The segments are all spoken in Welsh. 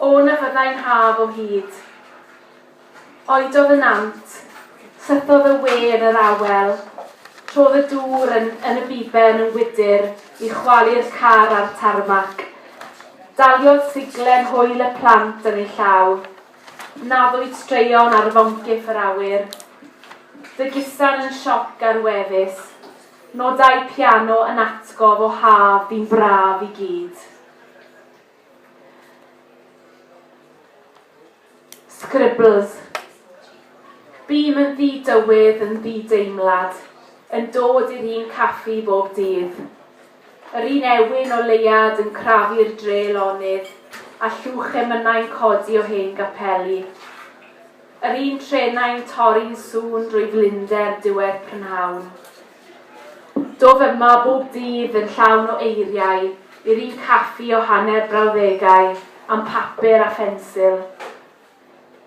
O na fyddai'n haf o hyd. Oedodd y nant, sythodd y we yn yr awel, trodd y dŵr yn, yn y biben yn wydr i chwalu'r car a'r tarmac. Daliodd siglen hwyl y plant yn ei llaw. Naddwyd straeon ar foncyff yr awyr. Dy gusan yn sioc ar wefus. Nodau piano yn atgof o haf ddi'n braf i gyd. Scribbles. Bûm yn ddi-dywydd, yn ddi-deimlad, yn dod i'r un caffi bob dydd. Yr un ewyn o leuad yn crafu'r dre lonydd, a llwch emynau'n codi o hen gapeli. Yr un trenau'n torri'n sŵn drwy flinder diwedd prynhawn. Dof yma bob dydd yn llawn o eiriau i'r un caffi o hanner brawddegau am papur a phensil.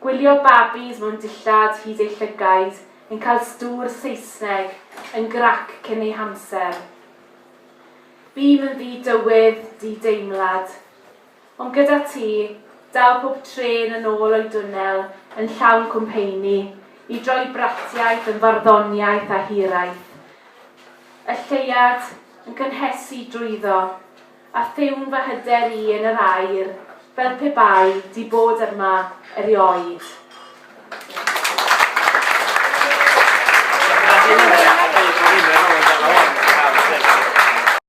Gwylio babis mewn dillad hyd eu llygaid yn cael stŵr Saesneg yn grac cyn eu hamser. Bûm yn ddi-dywydd, di-deimlad. Ond gyda ti, daw pob trên yn ôl o'i dwnnel yn llawn cwmpeini, i droi bratiaith yn farddoniaeth a hiraeth. Y lleuad yn cynhesu drwyddo, a thiwn fy hyder i yn yr aer, fel pe bai di bod yma erioed.